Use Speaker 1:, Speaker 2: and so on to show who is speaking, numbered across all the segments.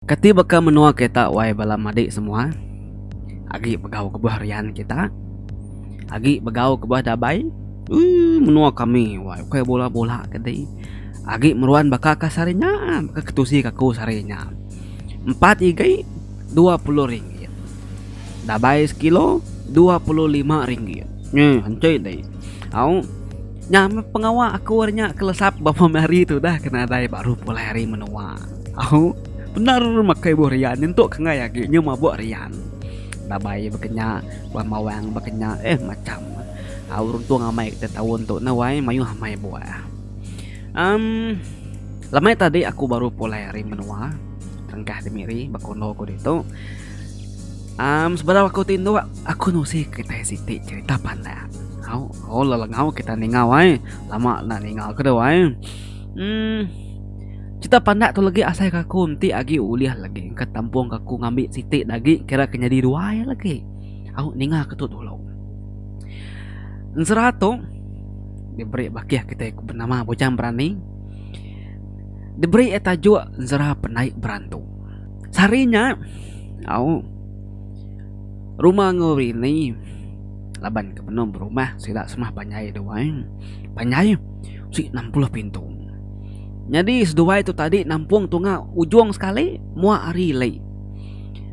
Speaker 1: Kati baka menua kita wai bala madi semua agi begau kebuah rian kita agi begau kebuah dabai ui menua kami wai ukai bula bula kedi agi meruan baka ka sehari nya baka ke tusi ka aku sehari nya empat igi dua puluh ringgit dabai sekilo dua puluh lima ringgit nge enti di au nya meh pengawa aku ari nya kelesap bapa meh hari tu dah ke nadai baru pulai ari menua. Au, bendar makai buh rian nyentuk kengai agi nyau mabuk rian. Dabai baka nya, buah mawang baka nya, eh macham. Au runtung amai kita taun tu neh wai mayuh amai buah. Em lemai tadi aku baru pulai ari menua Rengkah Demiri ba kondo ku ditu. Em sebedau aku ti indu aku nusi kitai siti cherita pandak. Au, oh lelengau kita ningau ai. Lama enda ningau ke tu ai. Em. Cerita pandak tu legi asai ke aku enti agi ulih legi engka tampung ke aku ngambi siti dah agi kira ke nyadi dua iya legi. Au ninga ke tu dulu. Ensera tu diberi bakih kitai ku benama Bujang Berani diberi iya tajuk Ensera Penai Berantu. Sehari nya au rumah enggau rini laban ke benung berumah sida semah panjai duai. Panjai sik enam puluh pintu. Nyadi seduai tu tadi nampung tunga ujung sekali mua hari lei.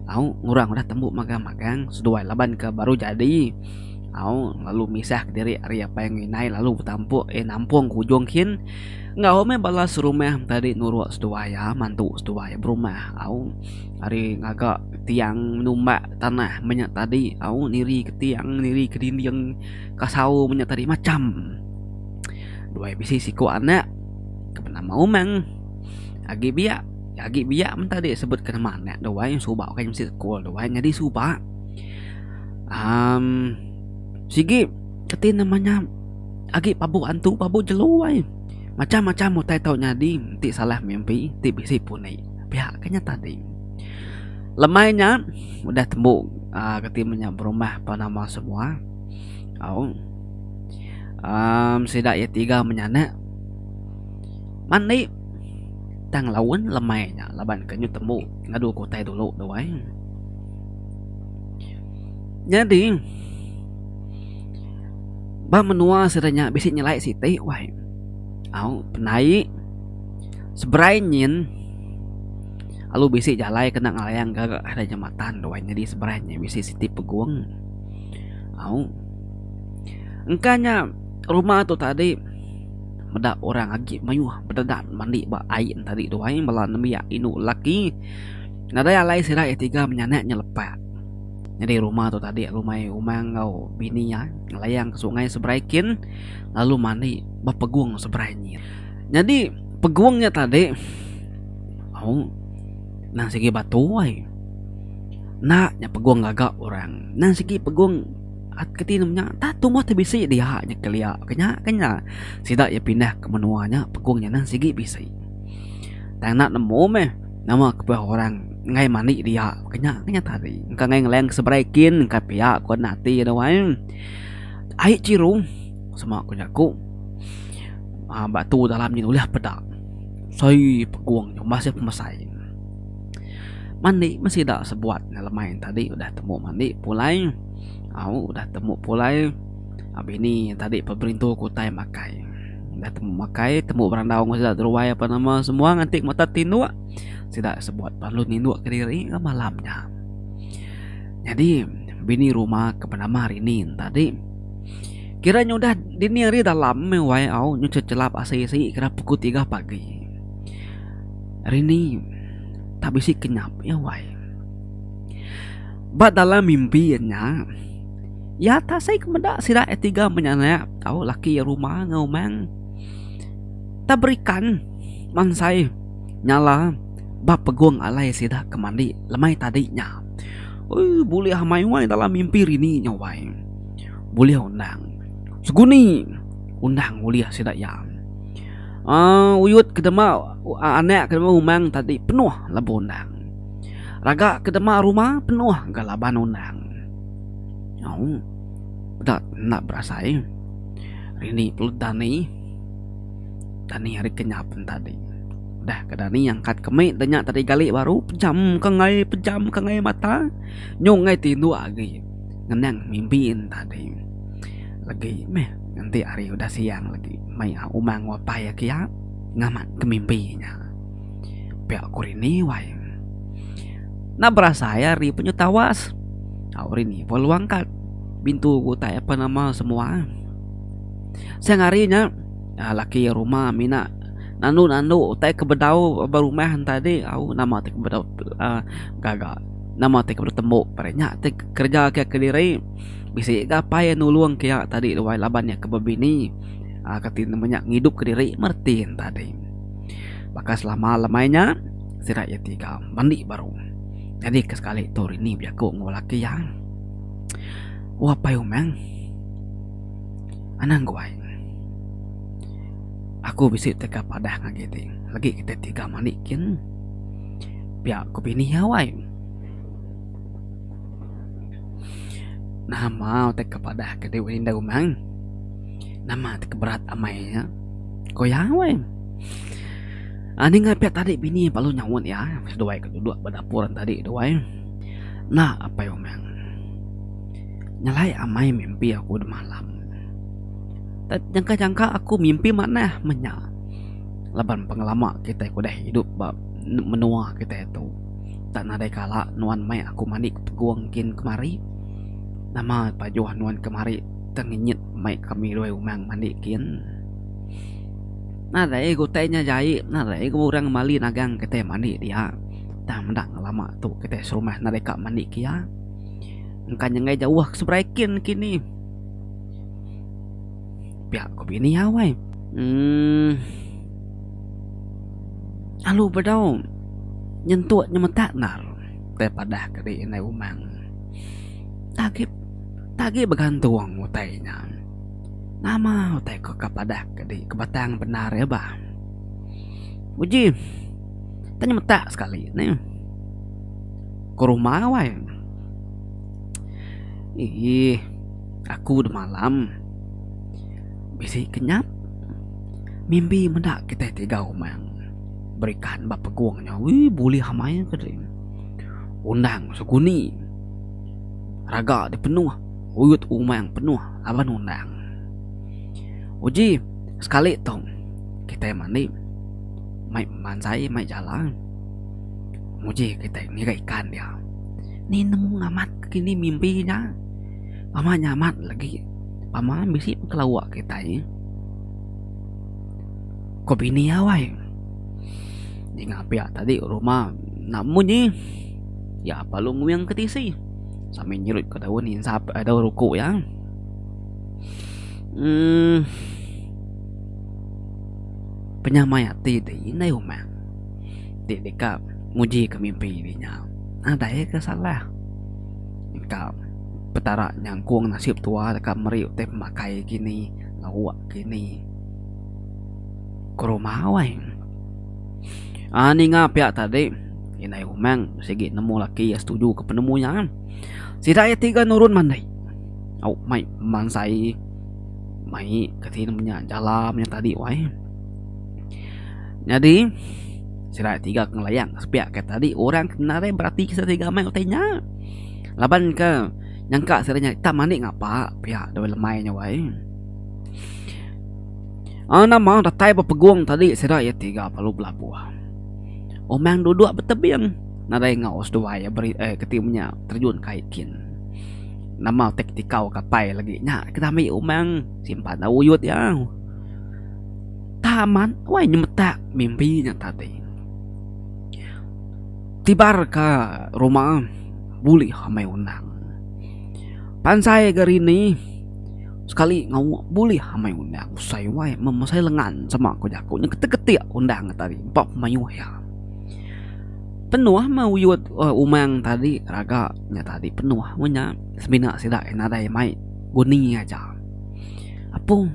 Speaker 1: Au ngurang udah tembu magang-magang seduai laban ke baru jadi. Au lalu misah kediri ari apai enggau indai lalu betampuk eh nampung ke ujung kin enggau meh bala serumah tadi nuruk seduai iya mantu seduai berumah au ari ngaga tiang numbak tanah menya tadi au niri ke tiang niri ke dinding kasau menya tadi macham. Dua iya bisi siku anak ke benama Umang. Agi biak, agi biak men tadi sebut ke nama anak dua yang suba ke mesti sekul dua nyadi suba. Um, sigi keti namanya agi pabu antu pabu jelu ai. Macam-macam utai tau nyadi ti salah mimpi ti bisi puni. Pihak kenya tadi. Lemai nya udah tembu uh, keti menya berumah panama semua. Au. Um, sida ye tiga menyana. Mandi tang laun lemai nya laban ke nyu tembu ngadu ke utai dulu tu ai. Nyadi ba menua sida nya bisi nyelai siti wai. Au penai seberai nyin alu bisi jalai kena ngelayang ga jematan tu ai nyadi seberai nyin bisi siti pegung. Au. Engka nya rumah tu tadi meda orang agi mayuh bededan mandi ba ai nya tadi tuai bala nembiak indu lelaki nadai alai sida iya tiga menyanak nya lepa. Nyadi rumah tu tadi rumai umang enggau bini iya ngelayang ke sungai seberai kin lalu mandi ba pegung seberai nyin. Nyadi pegung nya tadi au nan sigi batu ai. Enda nya pegung gaga orang nan sigi pegung. At ke tinu nya tah tumbuh ti bisi dia nya kelia ke nya ke nya sida iya pindah ke menua nya pekung nya neh sigi bisi. Tang enda nemu meh nama kepuih orang enggai mani dia ke nya ke nya tadi engka enggai ngeleng ke seberai kin engka pia ku ati anu ai. Ai chiru sema ku jaku uhh batu dalam nyin ulih peda. Soi pekung nya umbas iya pemesai. Mandi meh sida sebuat ne lemai tadi udah temu mandi pulai au udah temu pulai bini tadi pun berintu ku utai makai udah temu makai temu berandau ngan sida ruai apan nama semua nganti ke mata tinduk sida sebuat lalu ninduk kediri lalu malam nya. Nyadi bini rumah ke benama Rini ne tadi kira nya udah dini hari dalam meh wai au nyuncet chelap asi asi kira pukul tiga pagi. Hari ni tak bisi ke nyap iya wai. Ba dalam mimpi iya nya iya tak asai ke meda sida iya tiga menyanak tau laki iya rumah enggau umang tak berikan mansai nyala ba pegung alai sida ke mandi lemai tadi nya. Oi bulih amai wai dalam mimpi hari ni nya wai. Bulih undang seguni undang ulih sida iya. Uh, uyut ke dema uh, anak ke dema umang tadi penuh lebuh undang. Raga ke dema rumah penuh ga laban undang. Oh, dak nak berasai. Rini perlu dani. Dani hari kenyap tadi. Dah ke dani angkat kemik danya tadi gali baru pejam ke ngai pejam ke ngai mata. Nyung ngai tinduk agi. Ngenang mimpi tadi. Lagi meh. Enti hari udah siang lagi mai Umang Wapai iya kiya ngamat ke mimpi nya. Pia ku Rini wai. Enda berasai hari pun nyau tawas. Au Rini pun luang kad bintu ke utai ape nama semua. Siang hari nya laki rumah mina nandu-nandu utai ke bedau ba rumah entai adi au nama ti ke bedau gaga nama ti ke bedau tembu peda nya ti kerja kiya kediri. Bisi ga apai iya nulung ke iya tadi luai laban iya ke bebini aaa ke ti menya ngidup ke diri Martin tadi. Baka selama lemai nya sida iya ti ga mandi baru nyadi ke sekali tu Rini bejaku enggau laki iya O Apai Umang anang guai aku bisi tega padah agi ti lagi kita ti ga mandi kin pia ku bini iya wai. Nama utai ke padah ke deh ulih enda rumah? Nama ti ke berat amai nya? Ku iya, weh. Aaa ninga pia tadi bini belalu nyaut iya seduai ke duduk ba dapur tadi tu, weh. Enda apai umang. Nyelai amai mimpi aku demalam. Tet jangka-jangka aku mimpi manah meh nya laban pengelama kitai ke udah idup ba menua kitai tu. Tak nadai kala nuan mai aku mandi ke pegung kin kemari. Nama pajuh nuan kemari tang ngenyit mai ke Miloi Umang mandi kin. Nadai ke utai nya jai nadai ke orang mali nagang kitai mandi dia tang meda ngelama tu kitai serumah nadai ka mandi ke iya. Engka nyengai jauh ke seberai kin kini. Pia ku bini iya wai. Umm. Alu bedau nyentuk nyemetak endar utai padah ke dei indai umang. Tagi tagi begantung utai nya. Nama utai ko ka padah ke dei ke batang bendar iya bah. Uji tau nyemetak sekali neh. Ko rumah wai. Eeh. Aku da malam bisi kenyap mimbi meda kitai tiga umang berikan ba pegung nya wee bulih amai ku diri undang seguni raga ti penuh oyot umang penuh laban undang uji sekali tu kitai mandi mai bemansai mai jala nguji kitai ngiga ikan dia ni nemu amat kini mimbi nya. Pama nya amat lagi pama bisi pengelawak kitai. Ko bini awai. Ninga pia tadi rumah nak munyi ya palu nguing ke tisi sambil nyerut ke daun insap eh, daun ruku ya. Hmm. Penyamai ati ti indai umat. Ti deka nguji ke mimpi di nya. Nadai ke salah. ka Petara nyangkung nasib tua deka meri utai pemakai kini lauk kini ke rumah wai aaa ninga pia tadi indai Umang sigi nemu laki iya setuju ka penemu iya sida iya tiga nurun mandi au mai mansai mai kati nya jala tadi wai nyadi. Sida tiga ke ngelayang sepiak ke tadi orang ke nari berati ke sida tiga mai utai nya. Laban ke nyangka sida nya tak mani ngapa pia dawai lemai nya wai. Ah nama datai ba pegung tadi sida iya tiga lalu belabuh. Omang duduk ba tebing nadai ngau seduai iya beri eh keti menya terjun kai kin. Nama utai ketikau kapai lagi nya ke dami omang simpan da uyut iya. Taman wai nyemetak mimbi nya tadi. Tibar ka rumah bulih amai undang. Pansai ga rini sekali ngau bulih amai undang usai wai memesain lengan sema ku jaku nya ketik ketik undang nya tadi empa pemaioh iya. Penuh meh uyot umang tadi raga nya tadi penuh meh nya semina sida nadai mai guni aja. Apung.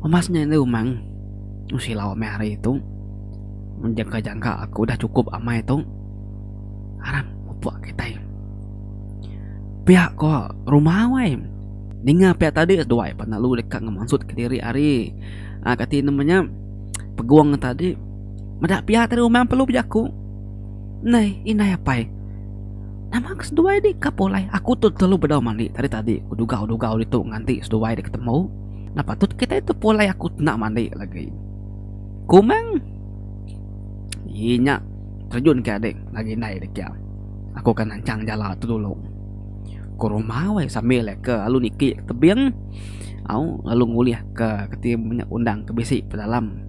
Speaker 1: Umas nya enda umang tu silau amai hari tu mun jangka jangka aku dah cukup amai tu aram pupuk kitai pia ko rumah wai ninga pia tadi seduai pan lalu deka ngemansut kediri ari um kati nama nya pegung tadi meda pia tadi umang perlu bejaku nai indai apai nama ke seduai di ka pulai aku tu telalu bedau mani tadi tadi bedugau dugau ditu nganti seduai deka temu. Napa tut kitai tepulai aku tna mandi lagi. Kumang ye nya terjun ke adik agi indai de kia. Aku ke nancang jala tu dulu. Ke rumah weh sambil ke lalu niki ke tebing au lalu ngulih ke keti nya undang ke bisi pedalam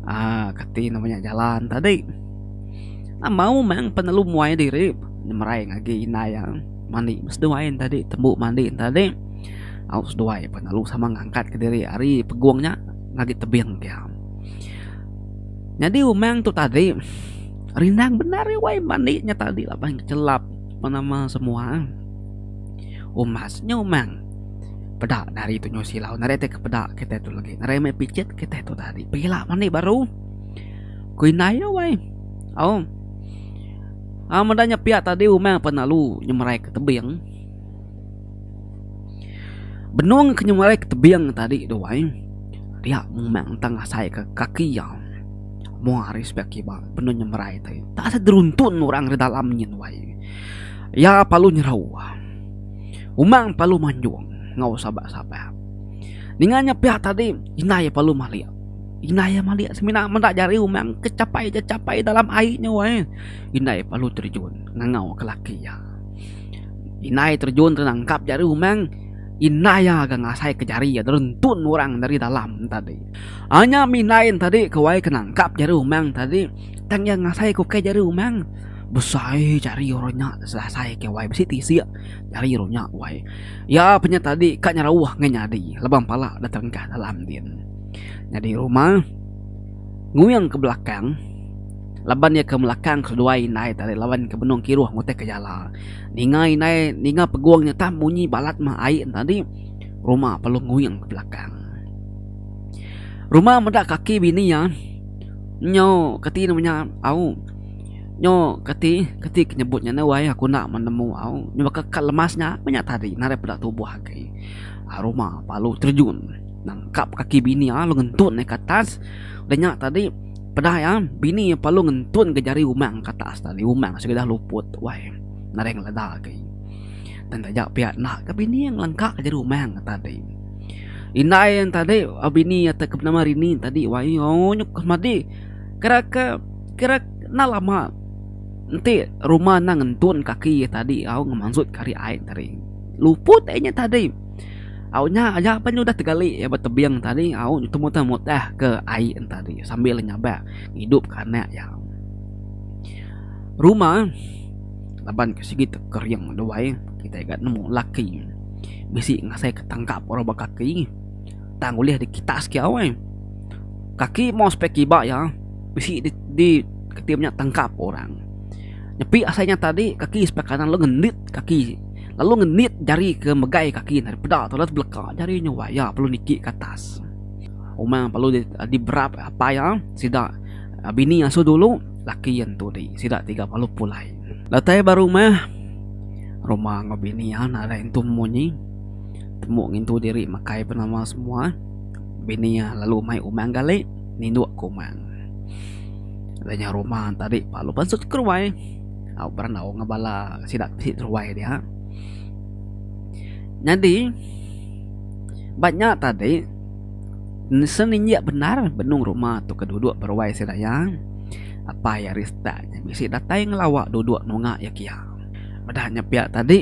Speaker 1: aaa keti nama nya jalan tadi. Amau mang penelu muai diri nyemerai ngagai indai iya. Mandi beseduai entadi tembu mandi entadi au seduai pan lalu sama ngangkatka diri ari pegung nya ngagi tebing ke iya. Nyadi umang tu tadi rindang bendar iya wai mandi nya tadi laban chelap pan nama semua umas nya umang peda ne hari tu nyau silau nadai tai ke peda kitai tu lagi nadai meh picit kitai tu tadi pila mandi baru ku indai iya wai au. Am meda nya pia tadi umang penalu nyemerai ke tebing. Benung ke nyemerai ke tebing tadi tu ai dia umang tang asai ke kaki iya mung ari sebelah kiba benung nyemerai tadi tak asai teruntun orang ri dalam nyin tu ai. Iya perlu nyerau umang perlu manjung enggau sabar-sabar. Ninga nya pia tadi indai perlu malik. Indai iya malik semina meda jari umang ke chapai ja chapai dalam ai nya wai. Indai lalu terjun ngangau ke laki iya. Indai terjun ke nangkap jari umang, indai iya ga ngasai ke jari iya rentun orang dari dalam tadi. Anyam indai tadi ke wai ke nangkap jari umang tadi tang iya ngasai ke ukai jari umang. Besai jari orang nya selesai ke wai bisi tisik jari orang nya wai. Iya punya tadi ka nyerauh ngai nyadi laban pala da terengkah dalam din. nyadi ruma nguing ke belakang laban iya ke melakang keduai indai tadi laban iya ke benung kiruh mutih ke jala ninga indai ninga pegung nya tah munyi balat meh ai nya tadi ruma perlu nguing ke belakang ruma meda kaki bini iya nyo keti nemu nya au nyo keti keti ke nyebut nya neh wai aku enda nemu au nyu baka kad lemas nya meh nya tadi nadai peda tubuh agi ruma baru terjun. Nangkap kaki bini iya lalu ngentun iya ke atas. Udah nya tadi peda iya bini iya lalu ngentun ke jari umang ke atas tadi umang sida udah luput tu ai nadai ngeleda agi. Tang taja pia enda ka bini iya ngelengka ke jari umang iya tadi. Indai iya tadi bini iya ke benama Rini tadi wai ooh nyukup semadi kira ke kira enda lama enti rumah enda ngentun kaki iya tadi au ngemansut ke ari ai tadi luput ai inya tadi. Au nya aja pan nya udah tegali iya ba tebing tadi au temuteh muteh ke ai en tadi sambil nyabak ngidupka anak iya. Rumah eh laban ke sigi te kering duai kitai ga nemu laki bisi ngasaika tangkap orang ba kaki tang ulih dikitak siki awai. Kaki maoh sepai kiba iya bisi di di kitai nya tangkap orang. Nyepi asai nya tadi kaki sebelah kanan lalu ngendit kaki. lalu ngenit jari ke megai kaki ne ari peda tu lalu beleka jari nya wai iya perlu niki ke atas uma perlu diberap apai iya sida bini asu dulu laki iya entu agi sida tiga baru pulai lalu tai ba rumah rumah enggau bini iya nadai entu munyi temu ngintu diri makai ba nama semua bini iya lalu mai umang gali nindu ka umang da nya rumah tadi lalu pansut ka ruai. Au berandau enggau bala sida bisi teruai dia. Nyadi ba nya tadi seninjik bendar benung rumah tu ke duduk ba ruai sida iya. Apai Arista nya bisi datai ngelawa duduk nunga iya kia. Meda nya pia tadi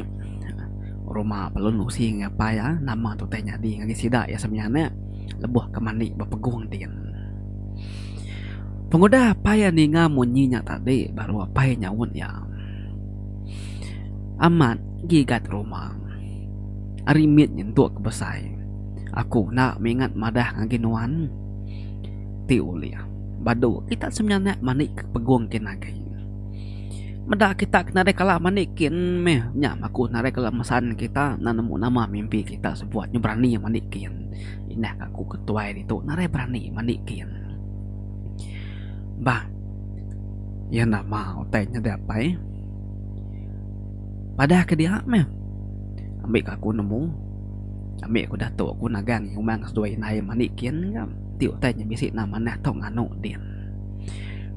Speaker 1: rumah Pelun Usi enggau apai iya nama tu utai nyadi ngagai sida iya semianak lebuh ke mani bepegung din. Pengudah apai iya ninga munyi nya tadi baru apai iya nyaut iya, Amat, gigat rumah. Ari mit nyentuk ke besai, aku enda mingat madah ngagai nuan. Ti ulih, badu kita seminyak mani ke pegung kin agi. Meda kita ke nadai kala mani kin meh nya baku nadai kala mesan kita nan nemu nama mimpi kita sebuat nya berani mani kin. Indah ngaku ketuai ditu narai berani mandi kin. Bah. Iya nama utai nyadi apai. Padah ke dia meh. Ambi ka aku nemu. Ambi aku datuk aku nagang ngumang seduai indai mandi kin ga. Ti utai nya bisi enda manah tau nganu din.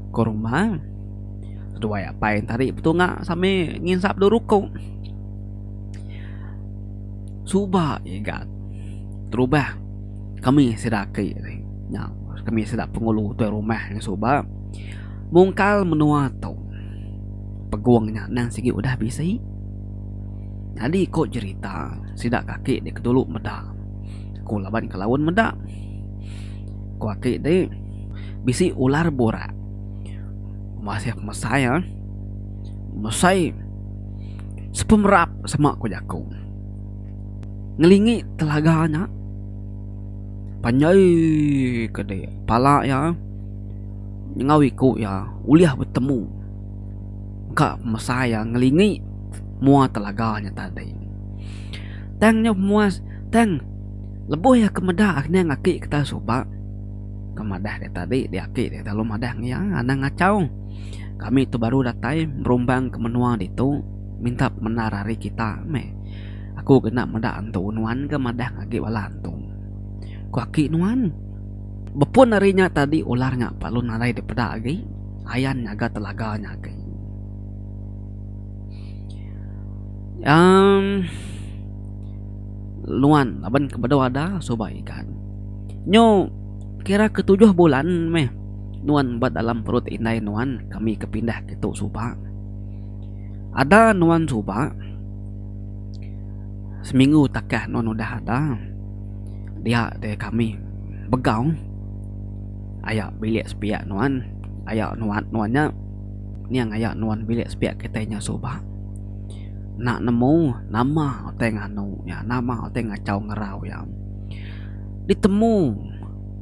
Speaker 1: Ko rumah seduai apai ntadi betunga sambil nginsap dulu ruku. Suba iya ga terubah kami sida aki ti nya kami sida pengulu tuai rumah nya suba mungkal menua tu pegung nya endang sigi udah bisi nyadi ku jerita sida ka aki ti dulu meda ku laban ke laun meda ku aki ti bisi ular burak masih mesai mesai sepemerap sema ku jaku. ngelingi telaga nya panjai ka dei pala iya enggau iku iya ulih betemu ka masa iya ngelingi mua telaga nya tadi tang nya mua tang lebuh iya ke meda aning aki ke taun suba ke madah iya tadi di aki iya lalu madah ngiya anang ngachau kami tu baru datai berumbang ke menua ditu. minta pemendar ari kita meh. Aku kena meda antu nuan ke madah agi bala antu. Ku aki nuan, bepun ari nya tadi ular nya perlu nadai dipeda agi ayan nyaga telaga nya agi. Amm nuan laban ke bedau ada suba ikan. Nyu kira ke tujuh bulan meh nuan ba dalam perut indai nuan kami ke pindah ke tu suba. Ada nuan suba seminggu takah nuan udah ada dia deh kami begau aya bilik sepiak nuan aya nuan nuan nya ning aya nuan bilik sepiak kitai nya suba enda nemu nama utai nganu nya nama utai ngachau ngerau iya ditemu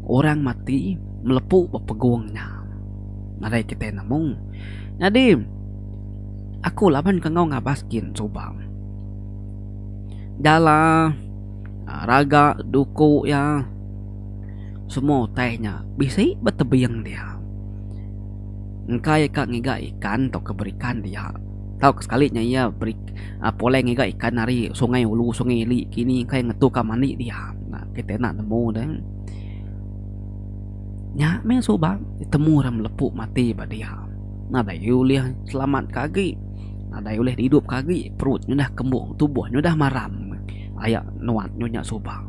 Speaker 1: orang mati melepu ba pegung nya nadai kitai nemu nyadi. Aku laban ke enggau ngabas gin suba. Dah la raga duku iya semua utai nya bisi ba tebing dia. Engka iya ka ngiga ikan tauka berikan dia tau ka sekali nya iya beri pulai ngiga ikan ari sungai ulu sungai ili kini engka iya ngetu ka mani dia. Kitai enda nemu deh. Nya meh suba ditemu orang melepu mati ba dia. nadai ulih selamat ka agi nadai ulih idup ka agi perut nyu dah kembung tubuh nyu dah maram aya nuat nyu nya suba.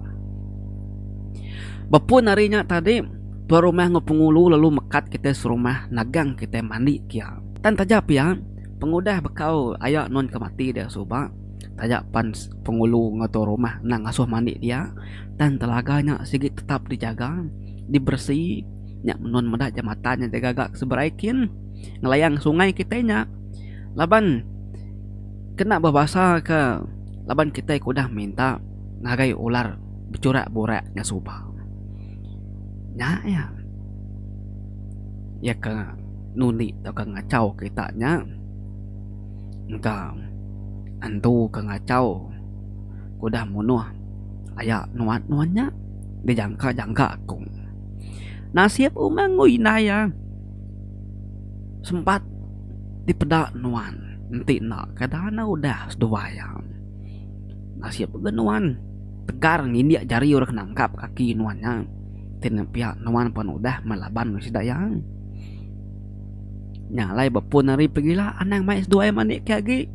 Speaker 1: Ba pun ari nya tadi tuan rumah enggau pengulu lalu mekat kitai serumah nagang kitai mandi kia. Tang taja pia pengudah bekau aya nun ke mati dia suba taja pan pengulu enggau tuan rumah enda ngasuh mandi dia tang telaga nya sigi tetap dijaga diberesi. nya menun meda jambatan nya gaga ke seberai kin ngelayang sungai kitai nya laban kena bebasa ke laban kitai ke udah minta ngagai ular bechurak burak nya suba nya iya iya ke ngundi tauka ngachau kita nya engka antu ke ngachau ke udah munuh aya nuan nuan nya dijangka jangka ku. Nasib umang ngui indai iya sempat dipeda nuan enti enda ka dana udah seduai iya. Nasib udah nuan tegar ngindik jari orang ke nangkap kaki nuan nya ti nepia nuan pen udah meh laban meh sida iya. Nya alai ba pun ari pegila anang mai seduai mani ke agi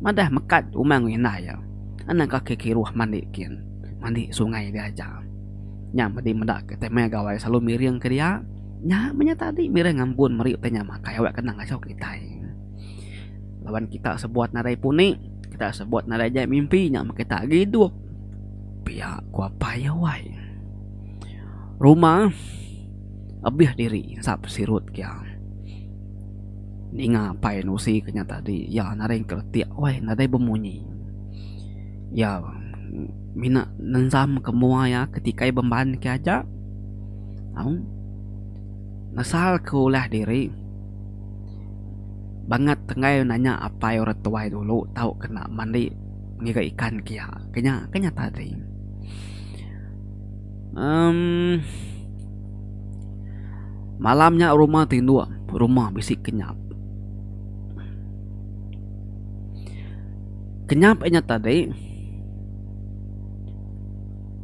Speaker 1: madah mekat umang ngui indai iya anang kaki kiruh mani kin mani sungai diaja. Nya medi meda ke tai maya gawai selalu miring ke dia. Nya menya tadi miring ngambun meri utai nya makai awak kena ngasuh kitai. Laban kita sebuat nadai puni, kita sebuat nadai jai mimpi nya meh kita agi idup. Pia ku apai iya wai. Rumah ebih diri ensap sirut kia. Ninga apai nusi ke nya tadi iya nadai engka retik wai nadai bemunyi. Iya. Mina nenzam ke mua iya ke tikai bemban ke aja. Aum. Nesal ke ulah diri. Bangat enggai nanya apai orang tuai dulu tau kena mandi ngiga ikan ke iya. Ke nya ke nyata ti. Aum. Malam nya rumah tinduk rumah bisi kenyap. Kenyap inya tadi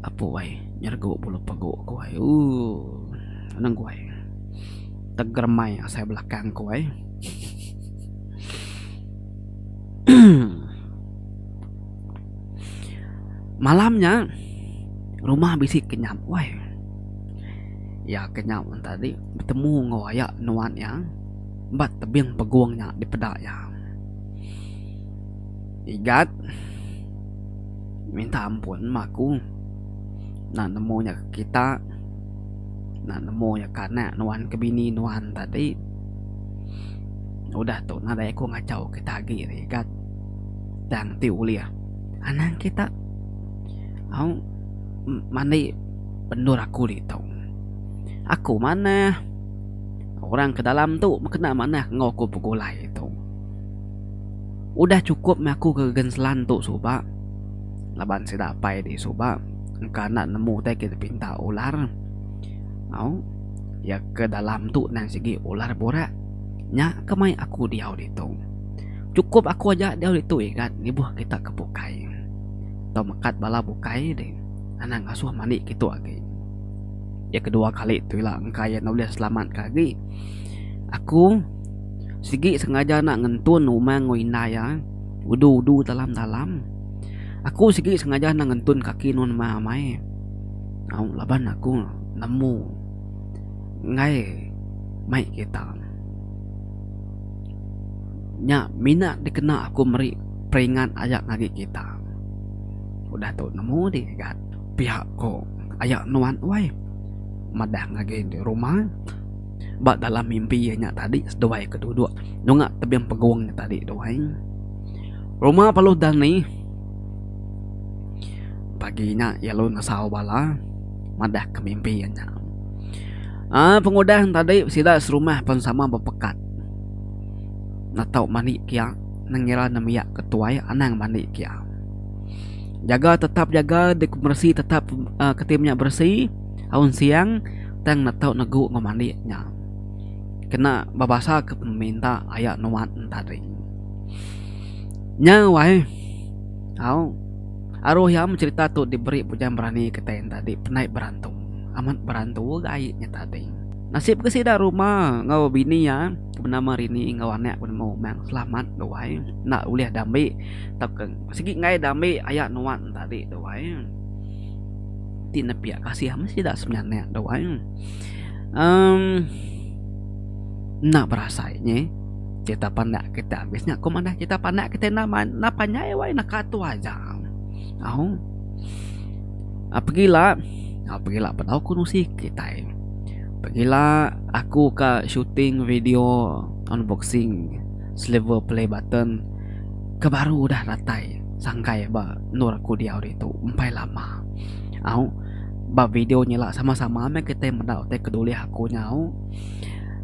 Speaker 1: apu ai nyergu bulu pegu ku ai ooh anang ku ai tegeremai asai belakang ku ai emm malam nya rumah bisi kenyap weh iya kenyap tadi betemu enggau aya nuan iya ba tebing pegung nya dipeda iya. Igat minta ampun ma aku enda nemu nya kita enda nemu nya kana nuan ke bini nuan tadi udah tu nadai aku ngachau kita agi ri Igat tang ti ulih anang kita au mani bendur aku ditu aku manah orang ke dalam tu kena manah enggau aku begulai tu. Udah chukup meh aku ke Genslan tu suba laban sida apai di suba engka enda nemu utai ke dipinta ular au iya ke dalam tu nan sigi ular burak nya ke mai aku diau ditu. Chukup aku aja diau ditu igat ngibuh kita ke bukai tau mekat bala bukai di anang asuh mani ke tu agi. Iya ke dua kali tu ila engka iya enda ulih selamat ke agi aku. Sigi sengaja enda ngentun rumah enggau indai iya udu-udu dalam-dalam. Aku sigi sengaja enda ngentun kaki nuan mah amai laban aku nemu enggai mai kita. Nya mina dikena aku meri peringat aya ngagai kita. Udah tu nemu agi ga piak ko aya nuan uai madah ngagai rumah. ba dalam mimpi iya nya tadi seduai ke duduk nunga tebing pegung nya tadi tu ai rumah Baluh Dani pagi nya iya lalu nesau bala madah ke mimpi iya nya um pengudah tadi sida serumah pen sama bepekat netau mani kia ngira ne mia ke tuai anang mani kia jaga tetap jaga dek beresi tetap um kitai mia beresi. Aun siang tang netau negu enggau mandik nya kena bebasa ke peminta aya nuan entading. Nya wai au aruh iya becerita tu diberi Bujang Berani kitai entadi penai berantu amat berantu ga ai nya tadi. Nasib ke sida ruma enggau bini iya ke benama Rini enggau anak ke benama Umang selamat tu wai enda ulih diambi tauka sigi enggai diambi aya nuan entadi tu wai. ti nepiak kasih meh sida seminyak tu ai um enda berasai nye kita pandak kita abis nya kuma neh kita pandak kita enda enda panjai wai neka tu aja au pegila au pegila bedau ku nusi kitai pegila aku ka shooting video unboxing silver play button ke baru udah datai sangkai ba Endur aku diau ditu empai lama. Au ba video nyelak sama-sama meh kitai meda utai ke dulih aku nyau.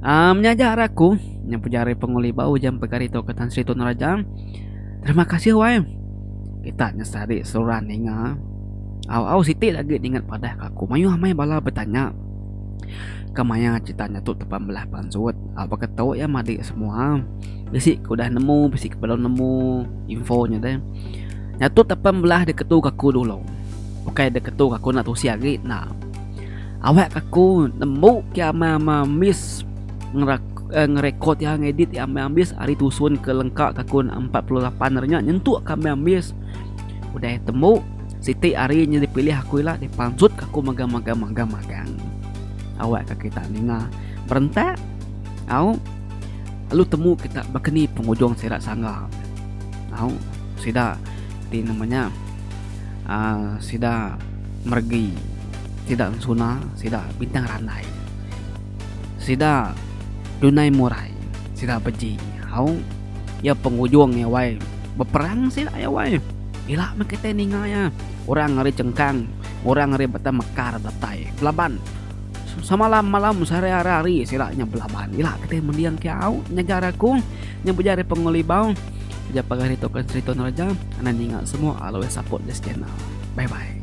Speaker 1: Um nya aja ari aku nya pejari ari Penguli Bau ujan pegari tauka Tan Sri Tun Raja. Terima kasih wai. Kita nya sehari seruran ninga. Au au siti agi ningat padah ke aku mayuh meh bala betanya ke maya cerita nya tu tepan belah pansut. Au baka tu iya madi semua bisi ke udah nemu bisi ke belum nemu info nya deh. Nya tu tepen belah deketu ke aku dulu. Ukai deketu ke aku enda tusih agi enda. Awak ke aku nemu ke amai-amai ambis ngerekod iya ngedit iya amai ambis ari tusun ke lengka ke aku enda 48 ari nya nyentuk ke amai ambis udah temu siti ari nya dipilih aku ila dipansut ke aku mega mega mega mega awak ke kita ninga berentak au lalu temu kita bakani pengujung sida sangga. Au sida ti nama nya uh, sida mergi sida suna sida bintang randai sida dunai murai sida beji au ya pengujung ya wai beperang sida ya wai ila meh kita ninga ya orang ari cengkang orang ari batang mekar datai laban Samalam malam sehari ara hari sila nya belaban ila keti mending ke au nyaga rakung nya beja ari pengelibau beja pagai ditu ke sri tun raja anang ninga semua always support this channel bye bye.